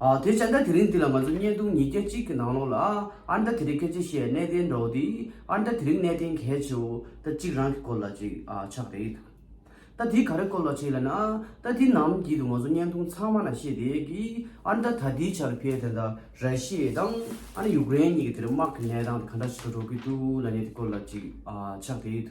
དེ་བྱས་ན་དེ་རིང་འདི་ལ་ང་ཚོ་བརྙན་ཐུང་ཉིས་བརྒྱ་གཅིག་གི་ནང་ལོགས་ལ་ཨར་འདྲ་དེ་རིང་སྐད་ཆ་བཤད་གནས་བརྟན་འགྲོ་འདི་ཨར་འདྲ་དེ་རིང་གནས་བརྟན་གལ་ཆེའོ་ད་གཅིག་རང་གི་སྐོར་ལ་གཅིག་ཆགས་རེད་ད་དེ་ག་རེ་སྐོར་ལ་བྱས་ལ་ན་ད་དེ་ནམ་བགྱིད་དུ་ང་ཚོ་བརྙན་ཐུང་ཚང་མ་ན་བཤད་དེ་གི་ཨར་འདྲ་ད་དེའི་ཆར་ཕེ་དེ་འདྲ་ར་ཤི་ཡའི་དང་ཨ་ན་ཡུག་རེན་གཉིས་ཀྱི་དེར་དམག་གི་གནས་སྟངས་དེ་ག་འདྲ་ཞིག་ཏུ་འགྲོ་གི་འདུག་ལ་ནས་དེ་སྐོར་ལ་གཅིག་ཆགས་རེད།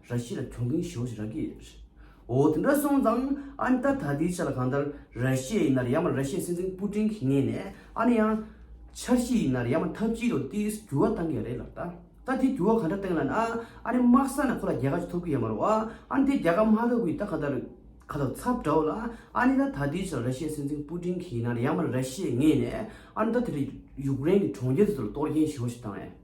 ར་ཤི་ལ་གྱོང་གིན་ཞོ་ཞིག་ར་གི་རེད། འོ་དེ་འདྲ་སོང་ཙང་ཨ་ནི་ད་ད་དེའི་ཆ་ལ་གང་ལྟར་ར་ཤི་ཡ་ཡིན་ནར་ཡང་མ་ར་ཤི་ཡའི་སྲིད་འཛིན་པུ་ཀྲིན་གྱི་ངེས་ནས་ཨ་ནི་ཡང། འཆར་གཞི་ཡིན་ནར་ཡང་མ་འཐབ་ཇུས་དང་ཏི་ཡིས་འགྱུར་བ་བཏང་གི་རེད་ལགས་ད། ད་དེ་འགྱུར་བ་གང་འདྲ་བཏང་ལ་ན་ཨ་ནི་དམག་ས་ན་ཁོ་ལ་རྒྱལ་ཁ་ཅིག་ཐོབ་གི་ཡ་མ་རོ་ཨ། ཨ་ནི་དེ་རྒྱལ་ཁ་མ་ཐོབ་གི་ད་གང་ལྟར། ཁ་ཐག་ཚབ་འདྲ་བོ་ལ་ཨ་ནི་ད་ད་དེའི་ཆ་ལ་ར་ཤི་ཡའི་སྲིད་འཛིན་པུ་ཀྲིན་གྱི་ཡིན་ནར་ཡང་མ་ར་ཤི་ཡའི་ངེས་ནས་ཨ་ནི་ད་དེ་འདྲ་ཡུཀ་རེན་གྱི་གྲོང་ཁྱེར་དེ་ཚོ་ལ་གཏོར་གྱིན་ཞོ་ཞིག་དང་ཨེ།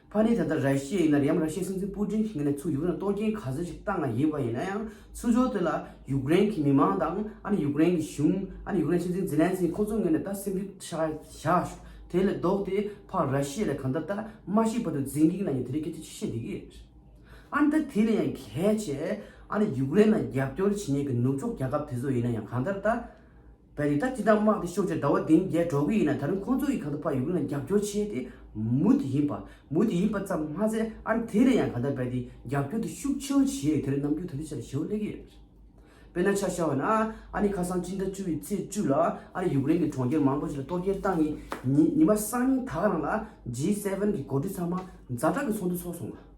ཕ་ནི་ད་ལྟ་རཱི་ཤི་ཡའི་ཡིན་ན་ཡང་རཱི་ཤི་ཡའི་སྲིད་འཛིན་སྤུ་ཀྲིན་གྱི་ངོས་ནས་ཚུར་ཡུག་རེན་ལ་གཏོར་སྐྱེན་ག་ཚོད་ཅིག་བཏང་བ་ཡིན་པ་ཡིན་ན་ཡང་ཚུར་ཕྱོགས་དེ་ལ་ཡུག་རེན་གྱི་མི་མང་དང་ཨ་ནི་ཡུག་རེན་གྱི་གཞུང་ཨ་ནི་ཡུག་རེན་སྲིད་འཛིན་ཛི་ལན་སི་ཀི་ཁོ་ཚོའི་ངོས་ནས་ད་སེམས་འགུལ་བཞག་བཞག་ཤོག་དེ་ལས་ལྡོག་ཏེ་ཕར་རཱི་ཤི་ཡ་ལ་གང་ལྟར་ད་མ་ཤི་བར་དུ་རྫིང་གིག་ན་ཡང་དེ་རིང་སྐད་ཆ་ཅི་བཤད་དེ་གི་རེད། ཨ་ནི་ད་དེ་ལས་ཡང་གལ་ཆེ་ཨ་ནི་ཡུག་རེན་ལ་རྒྱབ་སྐྱོར་བྱེད་ཉན་གི་ནུབ་ཕྱོགས་རྒྱལ་ཁབ་དེ་ཚོ་ཡིན་ན་ཡང་གང་ལྟར་ད། བས་རིགས་ད་ཅི་འདྲ་དམག་དེ་ཤོར་རྗེས་ཟླ་བ་བདུན་བརྒྱད་འགྲོ་གི་ཡིན་ན་ད་རུང་ཁོང་ཚོ་ཡིས་གང་ཐུབ་ཕར་ཡུ་ཀེ་རེན་ལ་རྒྱབ་སྐྱོར་བྱས་ཏེ་མུ་དེ་ཡིན་པ་མུ་དེ་ཡིན་པ་ཙམ་མ་ཟད་ཨར་དེ་ནས་ཡང་གང་ཐུབ་བས་དེ་རྒྱབ་སྐྱོར་དེ་ཤུགས་ཆེ་བོ་བྱས་དེར་ནམ་རྒྱུན་ད་ལྟའི་ཆར་བྱེད་དབང་སླེབས་ཀྱི་ཡོད་པས་ན་ཆ་བཞག་བས་ན་ཨ་ནི་ཁ་སང་སྤྱི་ཟླ་བཅུ་བའི་ཚེས་བཅུ་ལ་ཨ་རིས་ཡུ་ཀེ་རེན་གྱི་གྲོང་ཁྱེར་མང་པོ་ཞིག་ལ་གཏོར་རྒྱལ་བཏང་ཡིན་ཉིན་མ་གསང་ཉིན་དག་རང་ལ G7གྱི་འགོ་ཁྲིད་ཚང་མ་མཛའ་གྲགས་ཀྱི་ཚོགས་འདུ་ཚོགས་སོང་བ།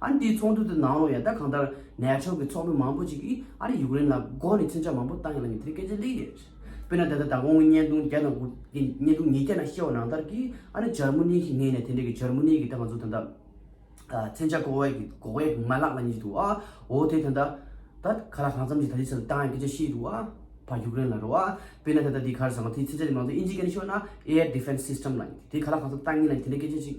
ཨ་རི་དེའི་ཚོགས་འདུ་དེ་ནང་ལོ་ཡང་ད་གང་ལྟར་ནེ་ཕྱོགས་ཀྱི་ཚོགས་མི་མང་པོ་ཅིག་གིས་ཨ་རི་ཡུཀ་རེན་ལ་མགོ་ནས་མཚོན་ཆ་མང་པོ་བཏང་ཡོད་ལ་ཉིན་དེར་སྐད་ཆ་ལེགས་ཡོད་རེད། དཔེར་ན་ད་ལྟ་ད་དགོང་གི་བརྙན་ཐུང་བརྒྱ་དང་དགུ་དེ་བརྙན་ཐུང་ཉིས་བརྒྱ་ནང་བཤད་བ་ནང་ལྟར་གྱི་ཨ་ནི་འཇར་མུ་ནི་ཞིག་ངེས་ནས་དེ་འདྲས་ཀྱི་འཇར་མུ་ནི་གྱི་ད་ང་ཚོ་ད་ལྟ་མཚོན་ཆ་འགོག་བའི་འགོག་བའི་མ་ལག་ལ་ཉེ་ཞིག་འདུག་ཨ་འོ་དེ་ད་ལྟ་ད་ག་ལ་གང་འཚམ་ཞིག་ད་དེ་ཚོ་ལ་བཏང་ཡང་སྐད་ཆ་ཤེས་ཡི་འདུག་ཨ་བ་ཡུཀ་རེན་ལ་རོ་ཨ་དཔེར་ན་ད་ལྟ་དེ་གར་བཟང་བ་དེའི་མཚོན་ཆ་དེ་མང་གཙོ་ཨིན་ཇིའི་སྐད་ནས་ཤོད་ན air defense system ལ་དེ་ག་ལ་གང་འཚམ་བཏང་ངེས་ལ་དེ་འདྲས་སྐད་ཆ་ཞིག་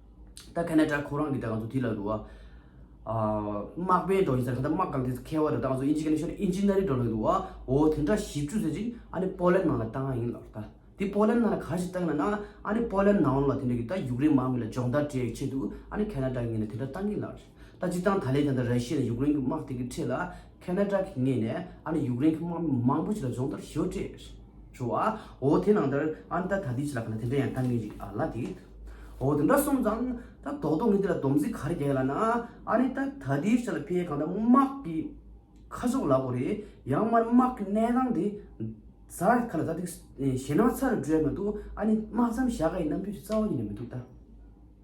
ད་ཁ་ན་ཏྲ་ཁོ་རང་གི་ད་ག་ཚོད་ཐིག་ལ་འདུག་ཨ། དམག་དཔོན་འགྲོ་ཡིན་ཟེར་ཁ་ད་དམག་སྒང་ཐིག་ས་ཁེལ་བ་ད་ད་ག་ཚོད་ཨིན་ཇི་ཁ་ན་ཤོར་ཨིན་ཇི་ན་རི་འགྲོ་ལོས་འདུག་ཨ། འོ་དེ་འདྲ་ཞིབ་ཆུ་ཟེར་ཅིག་ཨ་ནི་པོ་ལན་ནང་ལ་བཏང་ཨ་ཡིན་ལགས་ད། དེ་པོ་ལན་ནང་ལ་ག་ཞིག་བཏང་ན་ན་ཨ་ནི་པོ་ལན་ནང་ལ་དེ་འདྲ་གི་ད་ཡུག་རེན་དམག་མི་ལ་སྦྱོང་བརྡར་སྤྲད་ཡའི་ཆེད་དུ་ཨ་ནི་ཁ་ན་ཏྲ་ངེད་ལ་དེ་འདྲ་བཏང་གིན་ལགས། ད་ཅི་བཏང་ད་ལས་ཀྱང་ད་ར་ཤི་ཡ་ན་ཡུག་རེན་གི་དམག་དེ་གི་ཁྲེད་ལ་ཁེ་ན་ཏྲ་གི་ངེས་ནས་ཨ་ནི་ཡུག་རེན་གི་དམག་མི་མང་པོ་ཅིག་ལ་སྦྱོང་བརྡར་ཞོར་སྤྲད། ཞོ་ཨ་ཨོ་དེ་ནང་ལྟར་ཨ་ནི་ད་ད་དུས་ཅི་ལ་ཁ་ན་དེ་འདྲ་ཡང་ལྟ་ངེས་ཅིག་ཨ་ལ་དེ་ཨོ་དེ་འདྲ་སོང་ཙང་ད་དོག་དོག་ངས་དེ་ལ་སྡོམ་རྩིས་ག་རེ་རྒྱག་ཡ་ལ་ན་ཨ་ནི་ད་ད་དུས་ཅི་ལ་ཕའི་གང་ལྟར་དམག་གི་ཁ་ཟོག་ལ་གོ་རེ་ཡང་མ་ནི་དམག་གི་གནས་སྟངས་དེ་ཟར་ཁ་ལ་ད་དུས་ཞེ་ནང་ཚ་རུ་འགྲོ་ཡ་མི་འདུག་ཨ་ནི་དམག་མཚམས་བཞག་ག་ཡི་རྣམ་འགྱུར་ཅིག་རྩ་བ་ཉིད་ནས་མི་འདུག་ད།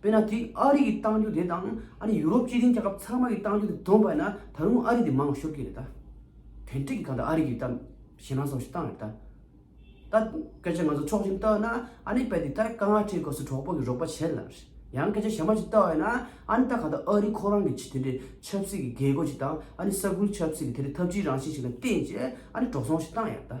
དཔེར་ན་དེ་ཨ་རི་གི་གཏང་རྒྱུ་དེ་དང་ཨ་རི་ཡུ་རོབ་སྤྱི་མཐུན་རྒྱལ་ཁབ་ཚང་མ་གི་གཏང་རྒྱུ་དེ་བསྡོམས་པ་ན་ད་རུང་ཨ་རི་དེ་མང་བ་ཤོར་གྱི་རེད་ད། དོན་དྲུག་གི་གང་ལྟར་ཨ་རི་གི་གཏམ་གཞན་རང་སྲོག་ཤིག་བཏང་རེད་ད། ད་སྐད་ཆ་ང་ཚོ་ཕྱོགས་བཞིན་བལྟ་ན་ཨ་ནི་དཔེ་དེ་ལྟར་དཀའ་ངལ་འཕྲད་དགོས་སུ་གྲོགས་པོ་གི་རོགས་པ་བྱེད་ལ། ཡང་སྐད་ཆ་ཞྭ་མོ་ཞིག་བལྟ་བས་ན་ཨ་ནི་ད་གང་ལྟར་ཨ་རི་ཁོ་རང་གི་ཆེས་དེ་འདྲའི་ཆབ་སྲིད་ཀྱི་རྒྱལ་སྒོ་ཞིག་དང་ཨ་ནི་ས་ཁུལ་ཆབ་སྲིད་ཀྱི་དེ་འདྲའི་འཐབ་ཇུས་རང་བཞིན་ཞིག་ལ་བརྟེན་ཅེས་ཨ་ནི་འགྲོ་སོང་ཞིག་བཏང་ཡ་རེད་ད།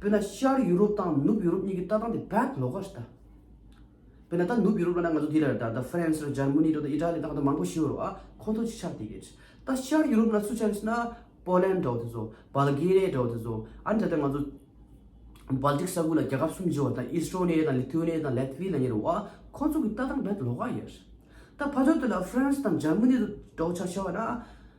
དཔེར་ན་ཤར་ཡུ་རོབ་དང་ནུབ་ཡུ་རོབ་གཉིས་ཀྱི་ལྟ་སྟངས་དེ་བད་ལོག་ག་རེད་ད། དཔེར་ན་ད་ནུབ་ཡུ་རོབ་ལ་ན་ང་ཚོ་འདི་རེད་ད་ད་ཧྥ་རན་སི་རེད་འཇར་མ་ནི་རེད་ད་ཨི་ཏྲ་ལི་དང་ད་མང་པོ་ཞིག་ཡོད་རེད་བ་ཁོ་ཚོ་ཅིག་ཆགས་དེ་གྱེས། ད་ཤར་ཡུ་རོབ་ན་སུ་ཆགས་ཡོད་ཟེར་ན་པོ་ལན་འདྲ་བོ་དེ་ཚོ་བཱ་ལ་གྷེ་རི་ཡཱ་འདྲ་བོ་དེ་ཚོ་ཨ་ནི་ད་ལྟ་ང་ཚོ་བཱ་ལ་ཏིག་ས་ཁུལ་ལ་རྒྱལ་ཁབ་གསུམ་བརྗེ་བ་དང་ཨི་སི་རོ་ནེ་ཡཱ་དང་ལི་ཐུ་ཨ་ནེ་ཡཱ་དང་ལེ་ཐི་བྷི་ལ་ཉེ་རེད་བ་ཁོ་ཚོ་གི་ལྟ་སྟངས་བད་ལོག་ག་རེད། ད་ཕ་ཇོ་དེ་ལ་ཧྥ་རན་སི་དང་འཇར་མ་ནི་རེད་འདྲ་བོ་ཆགས་བྱ་བ་ན།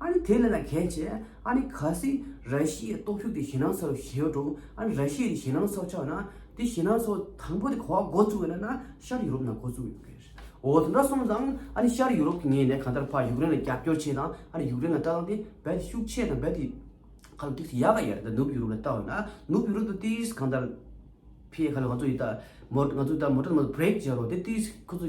ཨ་ནི་དེ་ལས་ལ་གལ་ཆེ། ཨ་ནི་ག་སི་ར་ཤི་ཡའི་སྟོབས་ཤུགས་དེ་ཞེ་སྣང་ས་རུ་ཞེ་ཡོད་འགྲོ། ཨ་ནི་ར་ཤི་ཡའི་དེ་ཞེ་སྣང་ས་ཆགས་ན། དེ་ཞེ་སྣང་ས་དང་པོ་དེ་གོ་བ་འགོ་བཙུགས་ཡོད་ན་ན་ཤར་ཡུ་རོབ་ནང་འགོ་བཙུགས་ཡོད་པ་རེད། འོ་དེ་འདྲ་སོང་ཙང་ཨ་ནི་ཤར་ཡུ་རོབ་ཀྱི་ངས་ནས་གང་ལྟར་ཕར་ཡུཀ་རེན་ལ་རྒྱབ་སྐྱོར་བྱས་ཙང་ཨ་ནི་ཡུཀ་རེན་ལ་བལྟ་ཙང་དེ་རྦད་དེ་ཤུགས་ཆེ་དང་རྦད་དེ་ཁ་ལོ་ཐིག་ཐིག་ཡག་ག་ཡག་རེད་ད་ནུབ་ཡུ་རོབ་ལ་བལྟ་འོས་ན་ནུབ་ཡུ་རོབ་ཏུ་ཏིས་གང་ལྟར་ཕེ་ཁ་ལོ་ང་ཚོ་ཡིད་ད་མོ་ང་ཚོ་ད་མོ་ཏོ་ན་མོ་ཏོ་བྲེག་བྱེད་རོགས་དེ་ཏིས་ཁོ་ཚོ་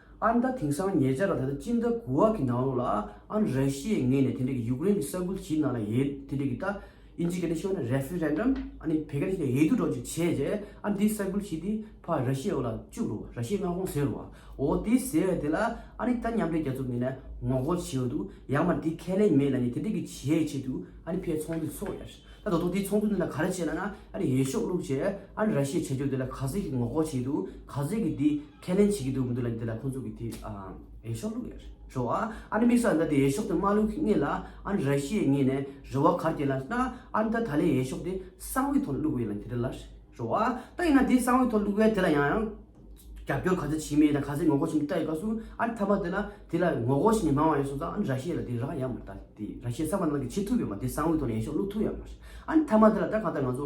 ཨ་མདའ་དེང་སང་ཉེ་ཆར་ལ་ད་ལྟ་སྤྱི་མདའ་གུ་ཝག་གི་ནང་ལོགས་ལ་ཨ་ར་ཤིའི་ངོས་ནས་དེ་འབྲེལ་གྱི་ཡུཀ་རེན་གྱི་ས་ཁུལ་ཞིག་ནང་ལ་ཡའི་དེ་འབྲེལ་གྱི་ད་ཨིན་ཇི་ག་ནི་ཤོ་ན་རེ་ཧྥི་རན་རམ་ཨ་ནི་བེ་ག་ནི་ཤི་ན་ཡའི་དུ་འགྲོ་ཅིག་བྱས་རྗེས་ཨ་འདི་ས་ཁུལ་ཞིག་འདི་ཕ་ར་ཤིའི་འོག་ལ་བཅུག་རུ་བ་ར་ཤིའི་མངའ་ཁོངས་ཟེར་རུ་བ་འོ་དེ་ཟེར་བའི་དེ་ལ་ཨ་ནི་ད་མཉམ་འབྲེལ་རྒྱ་མཚོ་ངོས་ནས་ངོ་རྒོལ་བྱེད་འོས་འདུག་ཡང་མར་དེ་ཁས་ལེན་མེད་ལ་ནི་དེ་འབྲེལ་གྱི་བྱས་ཆེད་དུ་ཨ་ནི་ཕའི་ཚོགས་འདུ་འཚོགས་ཡ་ད་དོ་ཐོ་དེ་ཚོགས་འདུ་འདི་ལ་ག་རེ་བྱས་ལ་ན་ཨ་ནི་ཡའི་ཤོག་བླུགས་བྱས་ཨ་ནི་ར་ཤིའི་བྱས་རྗོག་དེ་ལ་ག་ཟེར་གྱི་ངོ་རྒོལ་བྱེད་འདུག་ག་ཟེར་གྱི་འདི། ཁས་ལེན་བྱེད་ཀྱི་འདུག་མི་འདུག་ལ་འདི་ལ་ཁོང་ཚོ་གི་དེ་ཡེ་ཤོག་ལུག་ཡེ་ཤོག་ཨ་ཨ་ནི་མིག་སོག་ད་དེ་ཡེ་ཤོག་དེ་མ་ལུག་ངེས་ལ་ཨ་ནི་ར་ཤི་ཡའི་ངེས་ནས་རི་བ་གར་དེ་ལ་ན་ཨ་ནི་ད་ད་ལའི་ཡེ་ཤོག་དེ་གསང་བའི་ཐོག་ལུག་བའི་ལ་འདི་རི་ལ་ཤོག་ཨ་ད་ཡིན་ན་དེ་གསང་བའི་ཐོག་ལུག་བའི་དེ་ལ་ཡང་ཡང་རྒྱབ་སྐྱོར་ག་ཚོད་བྱེད་མིན་དང་ག་ཚོད་ངོ་རྒོལ་བྱེད་མིན་ལྟ་ཡོད་ག་སུ་ཨ་ནི་ཐ་མ་དེ་ལ་དེ་ལ་ངོ་རྒོལ་བྱེད་མི་མང་བ་ཡོད་སོང་ཙང་ཨ་ནི་ར་ཤི་ཡའི་ལ་དེ་ར་ཡ་མ་ད་དེ་ར་ཤི་ཡའི་ས་བ་ན་ལ་གི་བྱེད་ཐུབ་ཡོད་མ་དེ་གསང་བའི་ཐོག་ལ་ཡེ་ཤོག་ལུག་ཐུབ་ཡ་མ་རེད་ཨ་ནི་ཐ་མ་དེ་ལ་ད་གང་ལྟར་ང་ཚོ་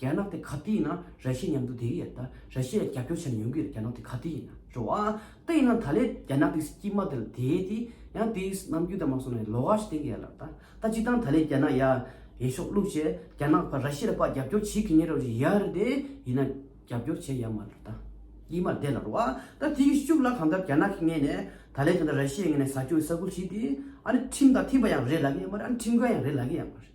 རྒྱ་ནག་དེ་ག་དུས་ཡིན་ན་ར་ཤི་ཡའི་མཉམ་དུ་དེ་གི་ཡ་ད་ར་ཤི་ཡ་རྒྱབ་སྐྱོར་བྱས་ནས་ཡོང་གི་རེད་རྒྱ་ནག་དེ་ག་དུས་ཡིན་ན་རེད་བ་ད་ཡིན་ན་ད་ལས་རྒྱ་ནག་དེ་སྐྱིད་མ་དེ་ལ་དེ་དེ་ཡང་དེ་ནམ་རྒྱུན་ད་མ་སོང་ན་ལོ་ག་ཞིག་སྟེང་གི་ཡ་ལ་ད་ད་སྤྱི་སྟངས་ད་ལས་རྒྱ་ནག་ཡ་ཡེ་ཤོག་བླུག་བྱས་རྒྱ་ནག་ཕ་ར་ཤི་ཡར་ཕ་རྒྱབ་སྐྱོར་བྱེད་གི་ཉེ་རོ་རི་ཡ་རེད་དེ་ཡིན་ན་རྒྱབ་སྐྱོར་བྱས་ཡ་མ་རེད་ད་སྐྱིད་མ་དེ་ལ་རེད་བ་ད་དེ་གི་སྐྱུག་ལ་གང་ལྟར་རྒྱ་ནག་གི་ངེས་ནས་ད་ལས་དེ་ད་ར་ཤི་ཡའི་ངེས་ནས་ཟ་སྐྱོ་ཡི་ས་ཁུལ་ཞིག་དེ་ཨ་ནི་ཁྲིམས་དང་མཐུན་པ་ཡང་རེད་ལ་གི་ཡ་མ་རེད་ཨ་ནི་ཁྲིམས་འགལ་ཡང་རེད་ལ་གི་ཡ་མ་རེད།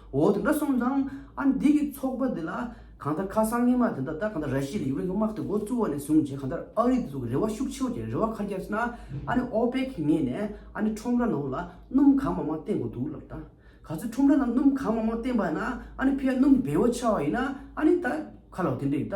འོ་དེ་འདྲ་སོང་ཙང་ཨ་ནི་འདི་གི་ཚོགས་པ་འདི་ལ་གང་ལྟར་ཁ་སང་ཉིན་མ་དེ་འདྲ་ལྟར་གང་ལྟར་ར་ཤི་ཡའི་ཡུག་རེན་གྱི་དམག་དེ་འགོ་བཙུགས་བ་ནས་བཟུང་རྗེས་གང་ལྟར་ཨ་རི་དེ་ཚོ་གི་རེ་བ་ཤུགས་ཆེ་བ་ཅན་རེ་བ་ག་རྒྱབ་ཟེར་ན་ཨ་ནི་ཨོ་པེ་ཁི་ངེས་ནས་ཨ་ནི་ཁྲོམ་ར་ནང་ལ་སྣུམ་གང་མང་མང་བསྟེན་དགོས་འདུག་ལབ་ད་ག་ཚོད་ཁྲོམ་ར་ནང་སྣུམ་གང་མང་མང་བསྟེན་པ་ན་ཨ་ནི་ཕའི་སྣུམ་བེའུ་ཆགས་བ་ཡིན་ན་ཨ་ནི་ད་ག་ལ་དེ་འདྲ་ཡིན་ད།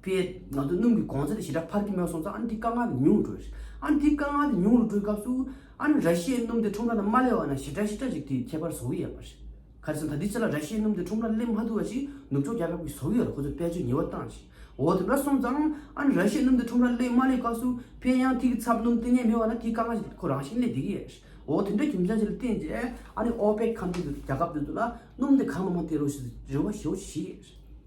པས། ང་ཚོ་སྣུམ་གྱི་གོང་ཚད་དང་ཞི་དྲག་འཕར་གྱི་མེད་པ་སོང་ཙང་ཨ་རི་དེ་དཀའ་ངལ་ཉུང་རུ་འགྲོ་ཡོད། ཨ་རི་དེ་དཀའ་ངལ་དེ་ཉུང་རུ་འགྲོ་བའི་སྐབས་སུ། ཨ་རི་ར་ཤི་ཡའི་སྣུམ་དེ་ཁྲོམ་ར་ནང་མ་སླེབས་པ་ན་ཞི་དྲག་ཞི་དྲག་ཅིག་དེའི་ཁྱད་པར་བཟོ་གི་ཡོད་པ་རེད། ག་དུས་སམ་ད་ལྟའི་ཆར་ལ་ར་ཤི་ཡའི་སྣུམ་དེ་ཁྲོམ་རར་སླེབས་མ་ཐུབ་པ་ཞིག་ནུབ་ཕྱོགས་རྒྱལ་ཁབ་ཀྱིས་བཟོ་གི་ཡོད་ལ་ཁོ་ཚོས་དཔལ་འབྱོར་ཉེ་བར་བཏང་ཞིང། འོ་དེ་འདྲ་སོང་ཙང་ཨ་རི་ར་ཤི་ཡའི་སྣུམ་དེ་ཁྲོམ་རར་སླེབས་མ་སླེབས་སྐབས་སུ། དཔལ་ཡང་ཐིག་གི་ཚབ་སྣུམ་གཏན་ནས་མེད་པ་ན་དེའི་དཀའ་ངལ་ཞིག་དེ་ཁོ་རང་བཞིན་གླེང་བསྡད་ཀྱི་ཡོད། འོ་དེ་འདྲའི་རྒྱུ་མཚན་ཞིག་ལ་བརྟེན་རྗེས་ཨ་རིས་ཨོ་པེག་ཁང་ཁྱིམ་དུ་རྒྱལ་ཁབ་དེ་ཚོ་ལ་སྣུམ་དེ་གང་མང་མང་སྟེར་རོགས་ཞེས་རེ་བ་ཞུ་བ་ཞིག་བྱས་ཀྱི་ཡོད།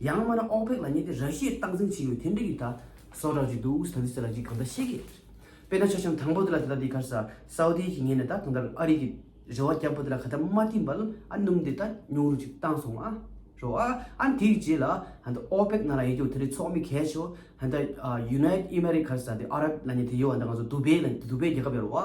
ཡང་མིན་ན་ཨོ་པེག་ལ་ཉེ་དེ་ར་ཤི་ཡས་སྟངས་འཛིན་བྱེད་ཡོད་ཐེན་འབྲེལ་ཡོད་ད་སོ་རག་གི་འདུག་ས་འདི་ས་ར་གི་གང་ད་ཤེས་གི་རེད་དཔེར་ན་ཆ་ཤང་དང་པོ་དེ་ལ་དེ་ད་དེ་གར་ས་སའོ་རྡི་ཡས་ཀྱི་ངེས་ནས་ད་གང་ད་ཨ་རི་གི་རེ་བ་རྒྱབ་པོ་དེ་ལ་ག་ད་མ་ཏིན་པ་ལ་ཨ་སྣུམ་དེ་ད་ཉུང་རུ་ཅིག་བཏང་སོང་ཨ་རོ་ཨ་ཨ་དེ་གི་རྗེས་ལ་ད་ཨོ་པེག་ནང་ལ་ཡེ་གྱོ་དེ་རི་ཚོགས་མི་གས་ཆོ་ད་ཡུ་ནའི་ཨི་མ་རི་གར་ས་དེ་ཨ་ར་བྷི་ལ་ཉེ་དེ་ཡོ་ཨ་ད་ང་ཚོ་དུ་བེ་ལ་དུ་བེ་རྒྱལ་ཁབ་ཡ་རོ་ཨ་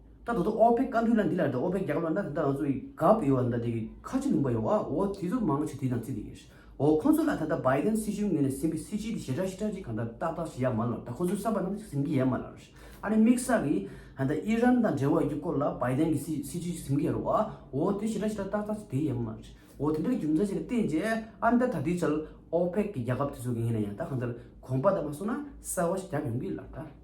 ད་དོ་དོ་ཨོ་པེ་བཀའ་འདུས་ལ་འདི་ལ་དོ་ཨོ་པེ་རྒྱ་གར་བ་འདྲ་དེ་འདྲ་ང་ཚོ་ཡི་ག་པ་ཡོད་བ་འདྲ་དེ་གི་ཁ་ཆེ་ལུང་པ་ཡོད་བ་འོ་དེ་ཚོ་མང་ཆེ་དེ་དང་ཚིག་དེ་ཡོད་འོ་ཁོང་ཚོ་ལ་ད་ད་བའི་དེན་སྲིད་གཞུང་ངོས་ནས་ཟིན་པའི་སྲིད་སྤྱི་དེ་ཞེ་དྲག་ཞེ་དྲག་ཅིག་གང་འདྲ་ཏག་ཏག་ཞིག་ཡ་མ་ལོ་ད་ཁོང་ཚོའི་བསམ་པ་ནང་ཅིག་ཟིན་གི་ཡ་མ་ལ་རོ་ཨ་རི་དམིགས་བསལ་གི་ད་ཨི་རན་དང་འབྲེལ་བ་ཡོད་རྒྱུ་སྐོར་ལ་བའི་དེན་གི་སྲིད་སྤྱི་ཞིག་ཟིན་གི་ཡ་རོ་བ་འོ་དེ་ཞེ་དྲག་ཞེ་དྲག་ཏག་ཏག་ཅིག་དེ་ཡ་མ་རེད་འོ་དེ་འདྲ་གི་རྒྱུ་མཚན་ཞིག་ལ་བརྟེན་རྗེས་ཨ་མདའ་ད་དུས་ཆར་ཨོ་པེག་གི་རྒྱལ་ཁབ་དེ་ཚོ་གི་ངོས་ནས་ཡང་ད་གང་ལྟར་གོམ་པ་ད་མ་སོང་ན་གསར་བ་ཞིག་བརྒྱབ་ཡོང་གི་ལ་ད།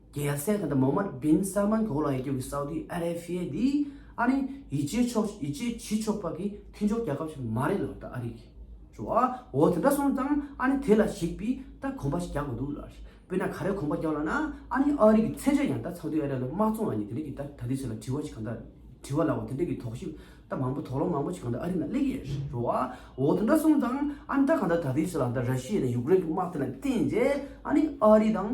རྒྱལ་སའི་ཁ་དར་མོ་མར་སྦིན་སལ་མཱན་གོ་ལ་ཡི་དུས་ཀྱི་སའུ་ཏི་ཨ་རེ་ཕི་ཡའི་དེ་ཨ་ནི་ཡི་ཇེ་ཕྱོགས་ཡི་ཇེ་ཇི་ཕྱོགས་པ་གི་མཐིན་ཕྱོགས་རྒྱལ་ཁབ་ཞིག་མ་རེད་ལགས་ད་ཨ་རི་གི་ཇོ་ཨ་འོ་དེ་འདྲ་སོང་ཙང་ཨ་ནི་དེ་ལ་ཞིག་པི་ད་གོམ་པ་ཞིག་རྒྱག་དགོས་འདུག་ལགས་དཔེར་ན་ག་རེ་གོམ་པ་རྒྱག་ལགས་ན་ཨ་ནི་ཨ་རི་གི་ཚད་ཆ་ཡང་ད་སའུ་ཏི་ཨ་རེ་ལ་མ་བཙོང་ལ་ཉེ་དེ་འདྲ་གི་ད་ད་དུས་ཚོད་ལ་དྲི་བ་ཞིག་གང་ད་དྲི་བ་ལ་འོ་དེ་འདྲ་གི་དོགས་གཞི་ད་མང་པོ་དོགས་སློང་མང་པོ་ཞིག་གང་ད་ཨ་རི་ན་སླེབས་ཀྱི་ཡོད་རེད་ཇོ་ཨ་འོ་དེ་འདྲ་སོང་ཙང་ཨ་ནི་ད་གང་ད་ད་དུས་ཚོད་ལ་ད་ར་ཤི་ཡའི་དང་ཡུཀ་རེན་གི་དམག་དེ་ལ་བརྟེན་རྗེས་ཨ་ནི་ཨ་རི་དང།